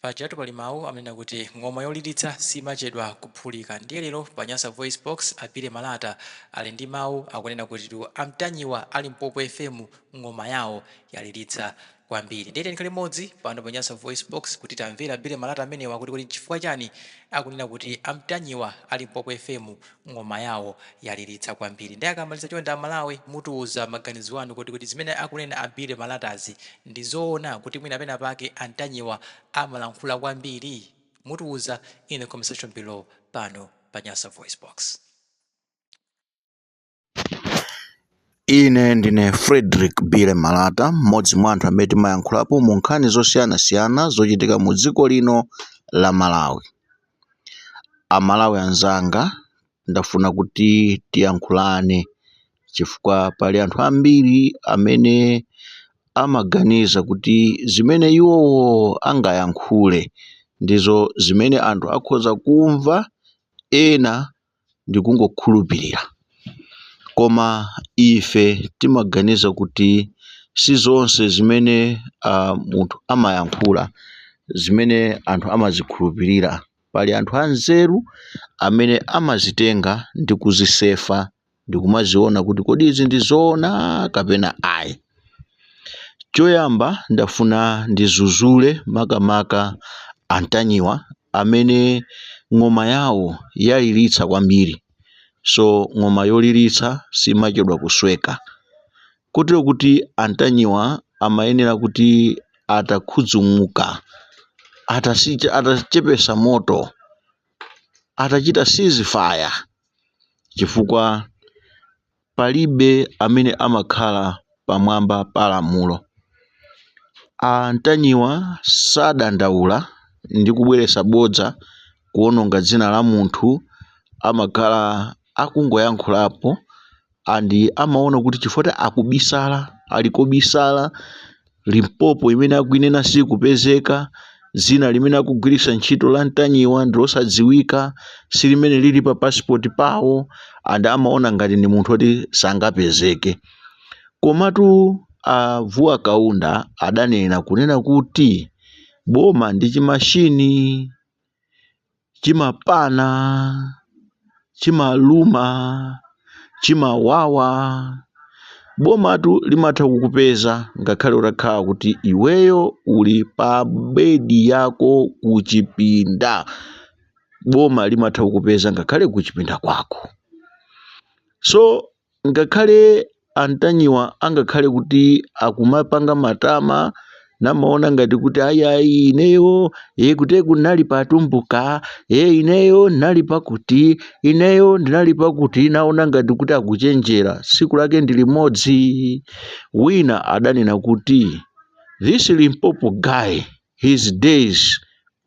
Pajatu pali mawu amanena kuti ng'oma yoliritsa simachedwa kuphulika ndiye lero pa Nyasa VoiceBox a Billy Malata ali ndi mawu akunena kuti a Mtanyiwa a Limpopo FM ng'oma yawo yaliritsa kwambiri ndiye tiyeni tikhale limodzi pano pa Nyasa VoiceBox kuti timvere Billy Malata amenewa kuti kodi nchifukwa chani akunena kuti a Mtanyiwa a Limpopo FM ng'oma yawo yaliritsa kwambiri nde akamaliza chonde a Malawi mutiuze maganizo anu kuti kodi zimene akunena a Billy Malatazi ndi zoona kuti mwina pena pake a Ntanyiwa amalankhula kwambiri? Mutiuze in the comment section below pano pa Nyasa VoiceBox. Ine ndine Frederick Billy Malata, mmodzi mwa anthu amene timayankhulapo mu nkhani zosiyanasiyana zochitika mu dziko lino la Malawi. A Malawi anzanga ndafuna kuti tiyankhulane chifukwa pali anthu ambiri amene amaganiza kuti zimene iwowo angayankhule ndizo zimene anthu akhoza kumva ena ndikungokhulupirira. Koma ife timaganiza kuti si zonse zimene munthu amayankhula zimene anthu amazikhulupirira. Pali anthu anzeru amene amazitenga ndi kuzisefa ndi kumaziona kuti kodi izi ndi zoona kapena ayi. Choyamba ndafuna ndidzudzule makamaka a Ntanyiwa amene ng'oma yawo yaliritsa kwambiri so ng'oma yoliritsa simachedwa kusweka kotero kuti a Ntanyiwa amayenera kuti atakhudzumuka atachepetsa moto atachita ceasefire chifukwa Palibe amene amakhala pamwamba pa lamulo. A Ntanyiwa sadandaula ndi kubweretsa bodza kuononga dzina la munthu amakhala akungoyankhulapo and amaona kuti chifukwa akubisala ali kobisala Limpopo imene akuinena siikupezeka, dzina limene akugwiritsa ntchito la Ntanyiwa ndilosadziwika, si limene lili pa passport pawo and amaona ngati ndi munthu oti sangapezeke. Komatu a Vuwa Kaunda adanena kunena kuti boma ndi chimashini. chimapana, chimaluma, chimawawa. Bomatu limatha kukupeza ngakhale utakhala kuti iweyo uli pa bedi yako kuchipinda. Boma limatha kukupeza ngakhale kuchipinda kwako. So Ngakhale a Ntanyiwa angakhale kuti akumapanga matama namaona ngati kuti ayayi ineyo e kuti kunali pa Tumbuka e ineyo ndinali pakuti ineyo ndinali pakuti naona ngati kuti akuchenjera siku lake ndi limodzi wina adanena kuti this limpopo guy his days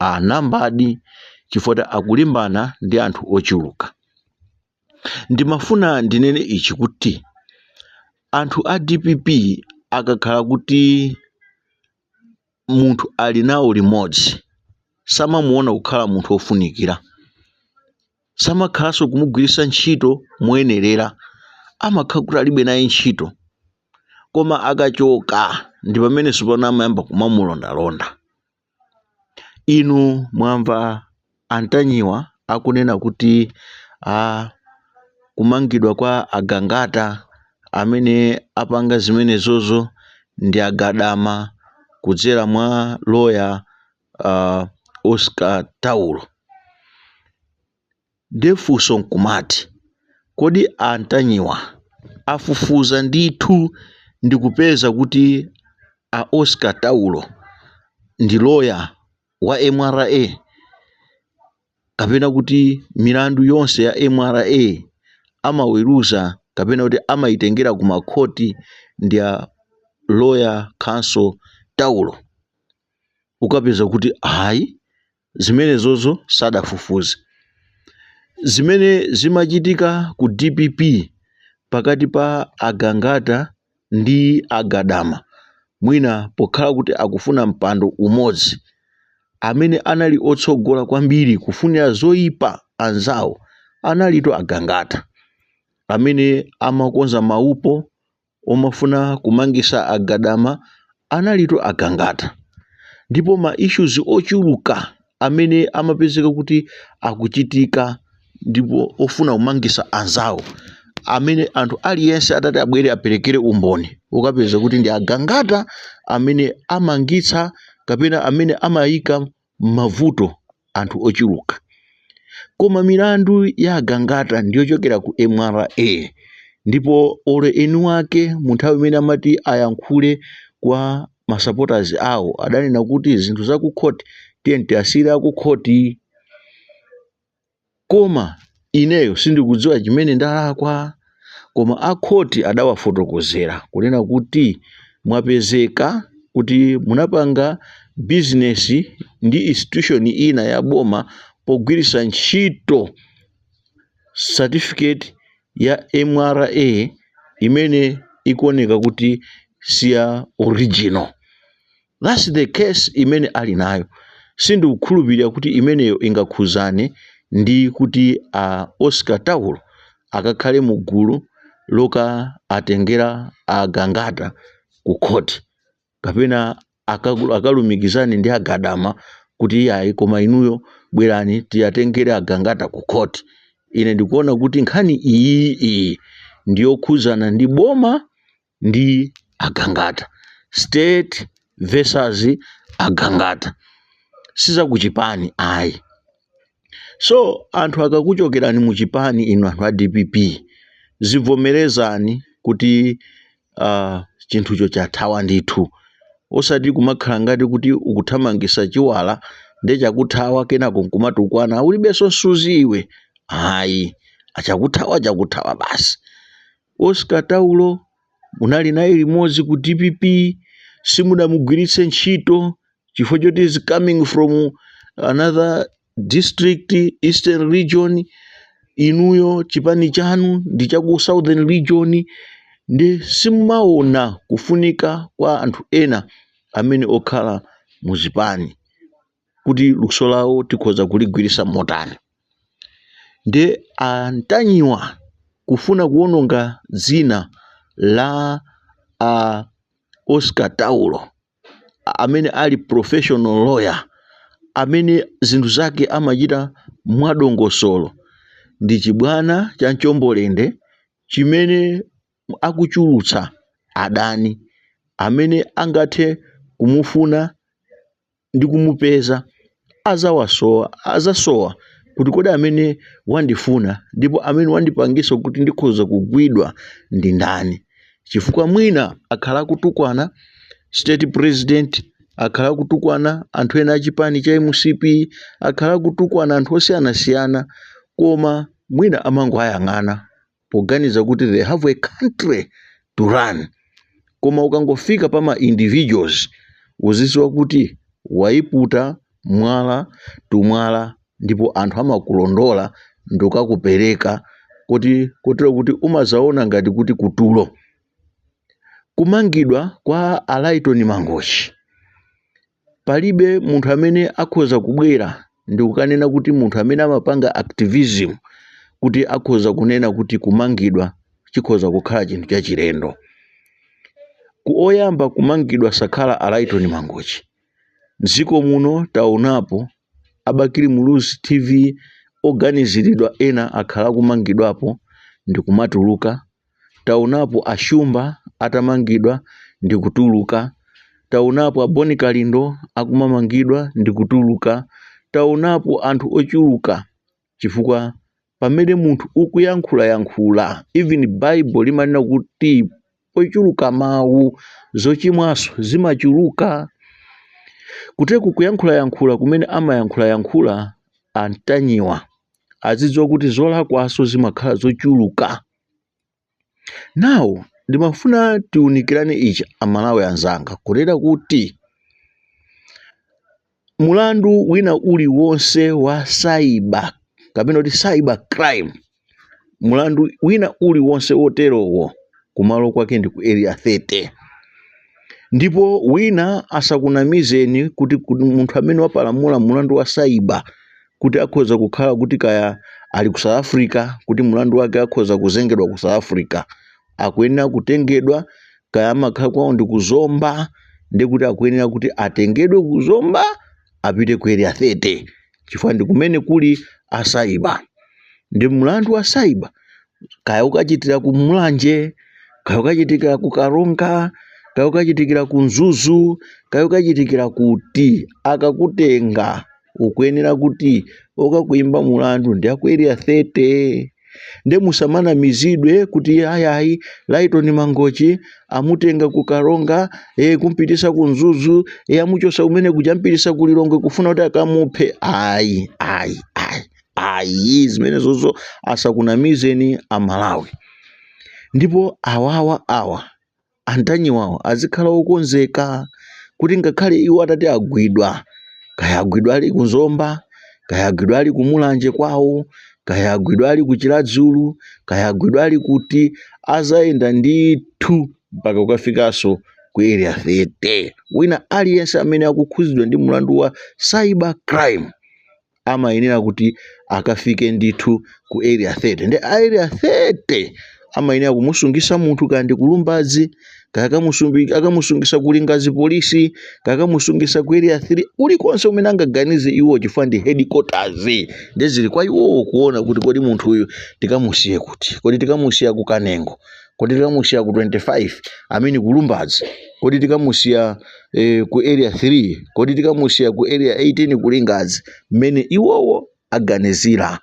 are numbered chifukwa akulimbana ndi anthu ochuluka Ndimafuna ndinene ichi kuti anthu a dpp akakhala kuti munthu ali nawo limodzi samamuona kukhala munthu wofunikira, samakhalanso kumugwiritsa ntchito moyenerera, amakhala kuti alibe naye ntchito. Koma akachoka ndi pamene tsopano amayamba kumamulondalonda. Inu mwamva a Ntanyiwa akunena kuti a kumangidwa kwa a Gangata amene apanga zimenezozo ndi a Gadama kudzera mwa loya a Oscar Taulo. Nde funso nkumati kodi a Ntanyiwa afufuza ndithu ndikupeza kuti a Oscar Taulo ndi lawyer wa mra? Kapena kuti milandu yonse ya mra amaweruza kapena kuti amaitengera ku makhoti ndi a lawyer Counsel Taulo? Ukapeza kuti ayi Zimenezozo sadafufuze. Zimene zimachitika ku dpp pakati pa a Gangata ndi a Gadama, mwina pokhala kuti akufuna mpando umodzi, amene anali otsogola kwambiri kufunira zoipa anzawo analitu a Gangata, amene amakonza maupo omafuna kumangisa a Gadama analitu agangata ndipo ma issues ochuluka amene amapezeka kuti akuchitika ndipo ofuna kumangisa anzawo amene anthu aliyense atati abwere aperekere umboni ukapeza kuti ndi agangata amene amangitsa kapena amene amayika mmavuto anthu ochuluka koma milandu ya agangata ndiyochokera ku mra ndipo olo eni wake munthawi imene amati ayankhule kwa ma supporters awo adanena kuti zinthu za ku court tiyeni tiasiyire aku court Koma ineyo sindikudziwa chimene ndalakwa. Koma a khoti adawafotokozera kunena kuti mwapezeka kuti munapanga bizinesi ndi institution ina ya boma pogwiritsa ntchito certificate ya mra imene ikuoneka kuti siya original. That's the case imene ali nayo sindikukhulupilira kuti imeneyo ingakhuzane ndi kuti a Oscar Taulo akakhale mu gulu lokaatengera a Gangata ku court kapena akalumikizane ndi a Gadama kuti iyayi koma inuyo bwerani tiatengere a Gangata ku court. Ine ndikuona kuti nkhani iyiyi ndiyokhuzana ndi boma ndi a Gangata state versus a Gangata si zakuchipani ayi so anthu akakuchokerani mu chipani inu anthu a dpp zivomerezani kuti uh, chinthucho chathawa ndithu osati kumakhala ngati kuti ukuthamangisa chiwala nde chakuthawa kenako nkumatukwana ulibenso nsuzi iwe ayi ah chakuthawa chakuthawa basi Oscar Taulo munali naye limodzi ku dpp simudamugwiritse ntchito chifukwa choti he's coming from another district eastern region inuyo chipani chanu ndi cha ku southern region nde simumaona kufunika kwa anthu ena amene okhala mu zipani kuti luso lawo tikhoza kuligwiritsa motani ndiye a Ntanyiwa kufuna kuwononga dzina la a Oscar Taulo a- amene ali professional lawyer amene zinthu zake amachita mwadongosolo ndi chibwana cha mchombolende chimene akuchulutsa adani amene angathe kumufuna ndi kumupeza, adzawasowa, adzasowa kuti kodi amene wandifuna ndipo amene wandipangisa kuti ndikhoza kugwidwa ndi ndani chifukwa mwina akhala akutukwana state president akhala akutukwana anthu ena achipani cha mcp akhala akutukwana anthu osiyanasiyana koma mwina amangowayang'ana poganiza kuti they have a country to run koma ukangofika pa ma individuals uziziwa kuti wayiputa mwala tumwala ndipo anthu amakulondola ndikukakupereka kuti kotero kuti umazaona ngati kuti kutulo kumangidwa kwa a Lyton Mangochi Palibe munthu amene akhoza kubwera ndikukanena kuti munthu amene amapanga activism kuti akhoza kunena kuti kumangidwa chikhoza kukhala chinthu chachilendo. Kuti oyamba kumangidwa sakhala a Lyton Mangochi. Mdziko muno taonapo a Bakili Muluzi TV oganiziridwa ena akhala akumangidwapo ndikumatuluka taonapo a Shumba atamangidwa ndi kutuluka, taonapo a Bon Kalindo akumamangidwa ndi kutuluka, taonapo anthu ochuluka chifukwa pamene munthu ukuyankhulayankhula even bible limanena kuti pochuluka mawu zochimwanso zimachuluka kuteku kuyankhulayankhula kumene amayankhulayankhula a Ntanyiwa azidziwa kuti zolakwanso zimakhala zochuluka now ndimafuna tiunikirane ichi amalawi anzanga kunena kuti mulandu wina uliwonse wa cyber kapena kuti cyber crime mulandu wina uliwonse woterowo kumalo kwake ndi ku area 30 ndipo wina asakunamizeni kuti munthu amene wapalamula mulandu wa cyber kuti akhoza kukhala kuti kaya ali ku South Africa kuti mlandu wake akhoza kuzengedwa ku South Africa akuyenera kutengedwa kaya amakhala kwawo ndi ku Zomba nde kuti akuyenera kuti atengedwe ku Zomba apite ku area 30 chifukwa ndi kumene kuli a cyber ndi mlandu wa cyber kaya ukachitira ku Mulanje kaya ukachitikira ku Karonga kaya ukachitikira ku Mzuzu kaya ukachitikira kuti akakutenga ukuyenera kuti okakuimba mulandu ndi aku area 30 nde musamanamizidwe kuti ayayi Lyton Mangochi amutenga ku Karonga e, kumpitisa ku Mzuzu e, amuchosa kumene kuja mpitisa ku Lilongwe kufuna kuti akamuphe ayi ayi ayi ayi zimenezozo asakunamizeni amalawi ndipo awawa awa a Ntanyiwawo azikhala okonzeka kuti ngakhale iwo atati agwidwa kaya agwidwa ali ku Zomba kaya agwidwa ali ku Mulanje kwawo kaya agwidwa ali ku Chiradzulu kaya agwidwa ali kuti azayenda ndithu mpaka kukafikanso ku area 30 wina aliyense amene akukhudzidwa ndi mlandu wa cyber crime amayenera kuti akafike ndithu ku area 30 nde a area 30 amayenera kumusungisa munthu kaya ndi ku Lumbadzi kaya akamusungisa ku Lingadzi polisi kaya akamusungisa ku area 3 kulikonse kumene angaganize iwo chifukwa ndi headquarters nde zili kwa iwowo kuona kuti kodi munthu uyu tikamusiye kuti kodi tikamusiya ku Kanengo kodi tikamusiya ku 25 amene ku lumbadzi kodi tikamusiya eh, ku area 3 kodi tikamusiya ku area 18 ku lingadzi mmene iwowo aganizira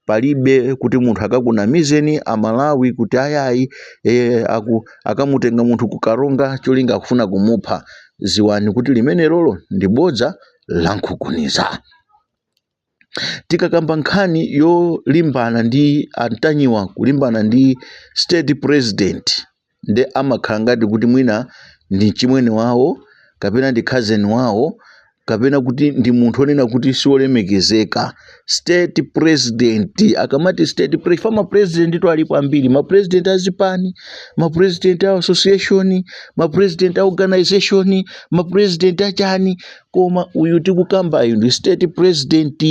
palibe kuti munthu akakunamizeni amalawi kuti ayayi e, aku, akamutenga munthu ku karonga cholinga akufuna kumupha dziwani kuti limenelolo ndi bodza lankunkhuniza tikakamba nkhani yolimbana ndi antanyiwa kulimbana ndi state president nde amakhala ngati kuti mwina ndi mchimwene wawo kapena ndi cousin wawo kapena kuti ndi munthu onena kuti siolemekezeka state president akamati state pre fa mapresidentitu alipo ambiri mapresident azipani mapresident a association mapresident a organization mapresident achani koma uyu tikukambayu ndi state president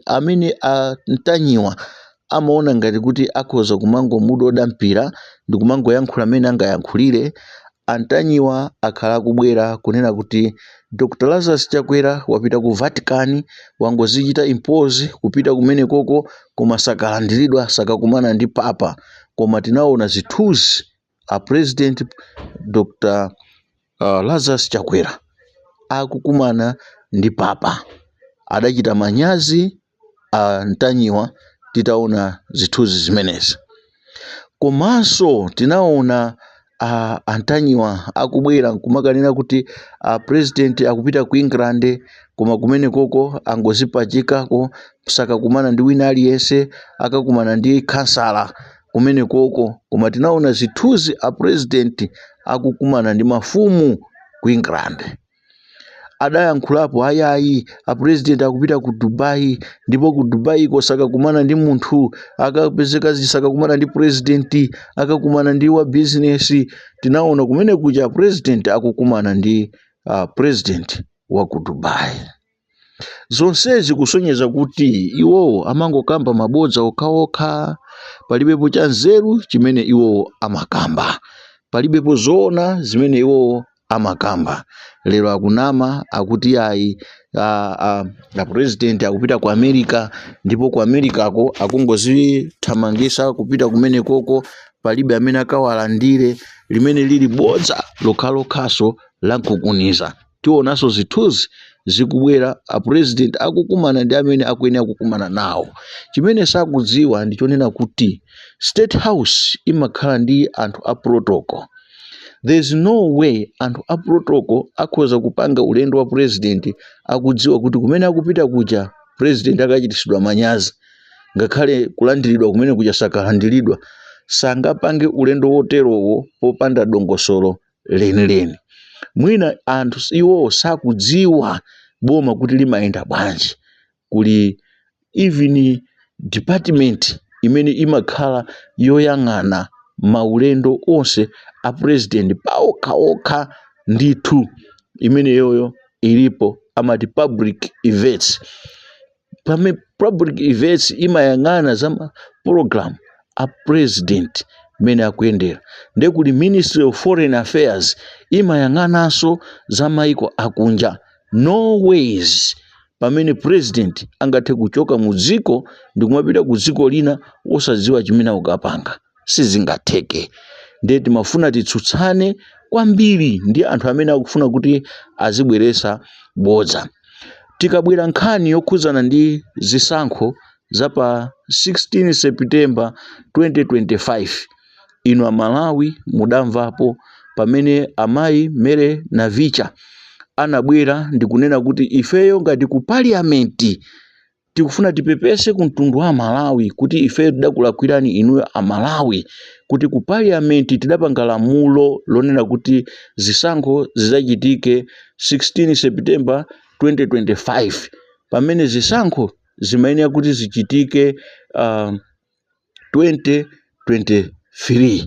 amene antanyiwa amaona ngati kuti akhoza kumangomudoda mpira ndi kumangoyankhula amene angayankhulire antanyiwa akhala akubwera kunena kuti dr lazarus chakwera wapita ku vatican wangodzichita impose kupita kumene koko koma sakalandiridwa sakakumana ndi papa koma tinaona zithunzi a president Dr Lazarus Chakwera akukumana ndi papa adachita manyazi a Ntanyiwa titaona zithunzi zimenezi komanso tinaona a Ntanyiwa akubwera nkumakanena kuti a president akupita ku England koma kumene koko angodzipachikako sakakumana ndi wina aliyense akakumana ndi khansala kumenekoko koma tinaona zithunzi a president akukumana ndi mafumu ku england adayankhulapo ayayi a president akupita ku dubai ndipo ku dubaiko sakakumana ndi munthu akapezeka sakakumana ndi president akakumana ndi wa business tinaona kumene kuja a president akukumana ndi uh, president wa ku dubai zonsezi kusonyeza kuti iwowo amangokamba mabodza okhaokha palibepo cha nzeru chimene iwowo amakamba palibepo zoona zimene iwowo amakamba lero akunama akuti ayi a, a, a president akupita ku america ndipo ku americako akungodzithamangitsa kupita kumenekoko palibe amene akawalandire limene lili bodza lokhalokhaso lankunkhuniza tionanso zithunzi zikubwera a president akukumana ndi amene akuyenera kukumana nawo chimene sakudziwa ndi chonena kuti state house imakhala ndi anthu a protocol there is no way anthu a protocol akhoza kupanga ulendo wa president akudziwa kuti kumene akupita kuja president akachitisidwa manyazi ngakhale kulandiridwa kumene kuja sakalandiridwa sangapange ulendo woterowo popanda dongosolo lenileni. Mwina anthu iwowo sakudziwa boma kuti limayenda bwanji. Kuli even department imene imakhala yoyang'ana maulendo onse a president paokhaokha ndithu imeneyoyo ilipo amati public events public events imayang'ana za ma program a president mmene akuyendera nde kuli ministry of foreign affairs imayang'ananso za maiko akunja no ways pamene president angathe kuchoka mu dziko ndikumapita ku dziko lina osadziwa chimene akukapanga sizingatheke ndiye timafuna titsutsane kwambiri ndi anthu amene akufuna kuti azibweresa bodza tikabwera nkhani yokhudzana ndi zisankho za pa 16 september 2025 inu amalawi mudamvapo pamene amayi mary navicha anabwera ndikunena kuti ifeyo ngati ku parliament tikufuna tipepese ku mtundu wa amalawi kuti ifeyo tidakulakwirani inuyo amalawi kuti ku parliament tidapanga lamulo lonena kuti zisankho zizachitike 16 september 2025 pamene zisankho zimayenera kuti zichitike uh, 2023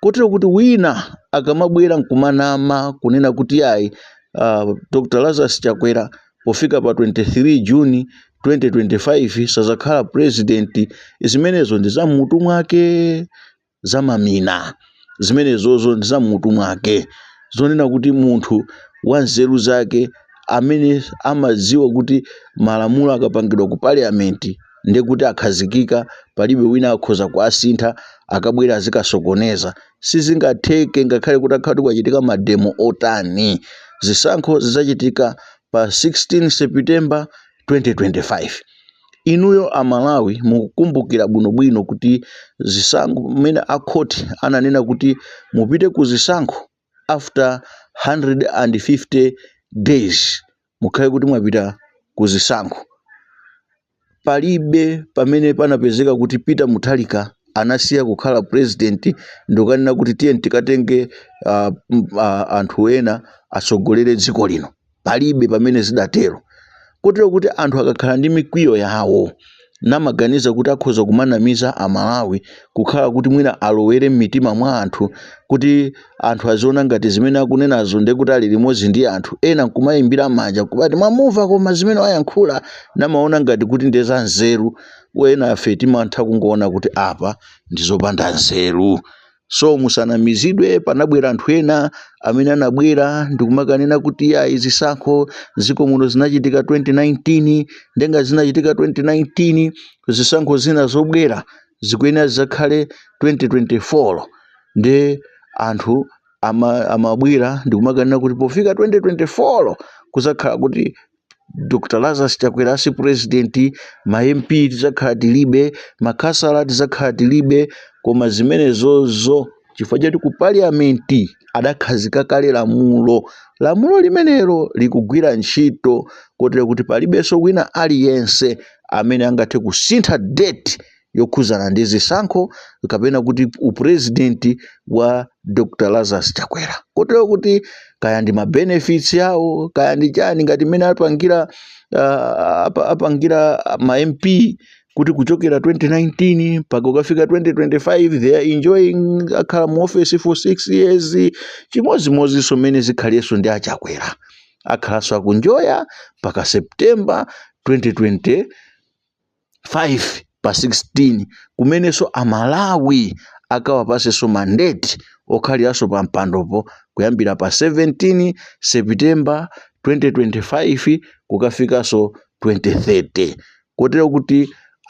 kotero kuti wina akamabwera nkumanama kunena kuti ayi uh, dr lazarus chakwera pofika pa 23 juni 2025 sazakhala president zimenezo ndi za mmutu mwake zamamina zimenezozo ndi za mmutu mwake zonena kuti munthu wa nzeru zake amene amadziwa kuti malamulo akapangidwa ku parliament ndiye kuti akhazikika palibe wina akhoza kuasintha akabwera azikasokoneza sizingatheke ngakhale kutakhala kuti kwachitika mademo otani zisankho zidzachitika pa 16 september 2025 inuyo amalawi mukukumbukira bwinobwino kuti zisankho mmene akhoti ananena kuti mupite ku zisankho after 150 days mukhale kuti mwapita ku zisankho. Palibe pamene panapezeka kuti Peter Mutharika anasiya kukhala president ndikukanena kuti tiyeni tikatenge uh, uh, anthu ena atsogolere dziko lino. Palibe pamene zidatero. Kotero kuti anthu akakhala ndi mikwiyo yawo namaganiza kuti akhoza kumanamiza Amalawi kukhala kuti mwina alowere m'mitima mwa anthu kuti anthu aziona ngati zimene akunenazo ndiye kuti ali limodzi ndi anthu ena nkumaimbira manja kumati mwamumva koma zimene wayankhula namaona ngati kuti ndiye za nzeru enafe timatha kungoona kuti apa ndi zopanda nzeru so musanamizidwe panabwera anthu ena amene anabwera ndikumakanena kuti yayi zisankho ziko muno zinachitika 2019 nde ngati zinachitika 2019 zisankho zina zobwera zikuyenera zizakhale 2024 nde anthu ama- amabwera ndikumakanena kuti pofika 2024 kuzakhala kuti Dr Lazarus Chakwera si president, ma MP tizakhala tilibe, makhansala tizakhala tilibe, koma zimenezozo chifukwa choti ku parliament adakhazika kale lamulo. Lamulo limenelo likugwira ntchito kotero kuti palibenso wina aliyense amene angathe kusintha date yokhudzana ndi zisankho kapena kuti upurezidenti wa dr lazarus chakwera kotero kuti kaya ndi mabenefits awo kaya ndi chani ngati mmene apangira uh, apangira ma mp kuti kuchokera 2019 mpaka ukafika 2025 they are enjoying akhala mu office for 6 years chimodzimodzinso mmene zikhaliyenso ndi achakwera akhalanso akunjoya mpaka september 2020 5 pa 16 kumenenso Amalawi akawapatsenso mandate okhaliranso pampandopo kuyambira pa 17 September 2025 kukafikanso 2030. Kotero kuti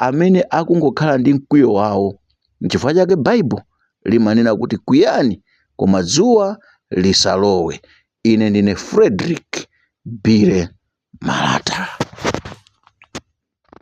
amene akungokhala ndi mkwiyo wawo. N'chifukwa chake Bible limanena kuti kwiyani, koma dzuwa lisalowe. Ine ndine Frederick Billy Malata.